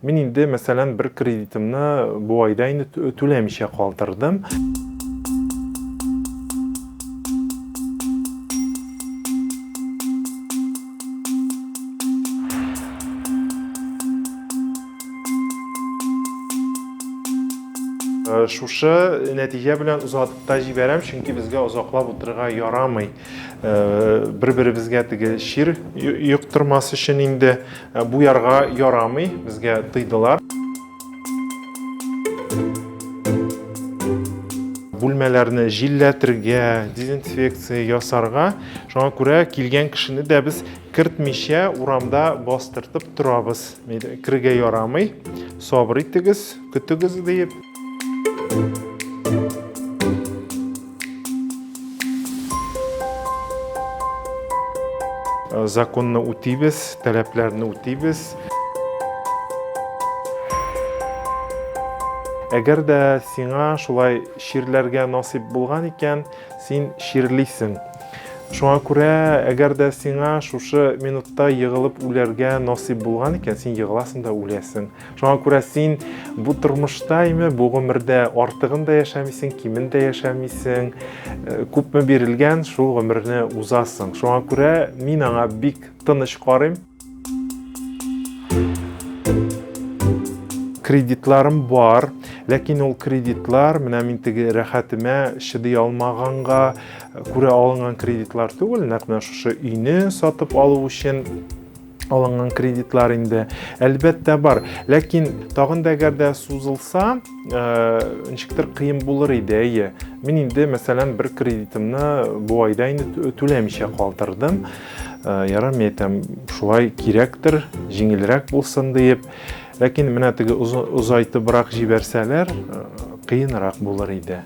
Мин инде, мәсәлән, бер кредитымны бу айда инде түләмичә калдырдым. Шушы нәтиҗә белән озатып та җибәрәм, чөнки безгә озаклап утырырга ярамый. Бер-беребезгә теге чир йоктырмас өчен инде бу ярга ярамый, безгә тыйдылар. Бүлмәләрне җилләтергә, дезинфекция ясарга, шуңа күрә килгән кешене дә без кертмичә урамда бастыртып торабыз. Керергә ярамый. Сабыр итегез. Көтегез диеп. Законны үтибез, таләпләрне үтибез. Әгәр дә сиңа шулай чирләргә насыйп булган икән, син чирлисең. Шуңа күрә, әгәр дә сиңа шушы минутта егылып үләргә насыйп булган икән, син егыласың да үләсең. Шуңа күрә син бу тормышта име, бу гомердә артыгын да яшәмисең, кимен дә яшәмисең. Э, күпме бирелгән, шул гомерне узасың. Шуңа күрә мин аңа бик тыныч карыйм. кредитларым бар, ләкин ул кредитлар менә мин теге рәхәтемә чыдый алмаганга күрә алынган кредитлар түгел, нәкъ менә шушы өйне сатып алу өчен алынган кредитлар инде әлбәттә бар ләкин тагын да әгәр дә сузылса ничектер кыен булыр иде әйе мин инде мәсәлән бер кредитымны бу айда инде түләмичә калдырдым ярар мин әйтәм шулай кирәктер җиңелрәк булсын диеп ләкин менә теге озайтыбрак җибәрсәләр кыенрак булыр иде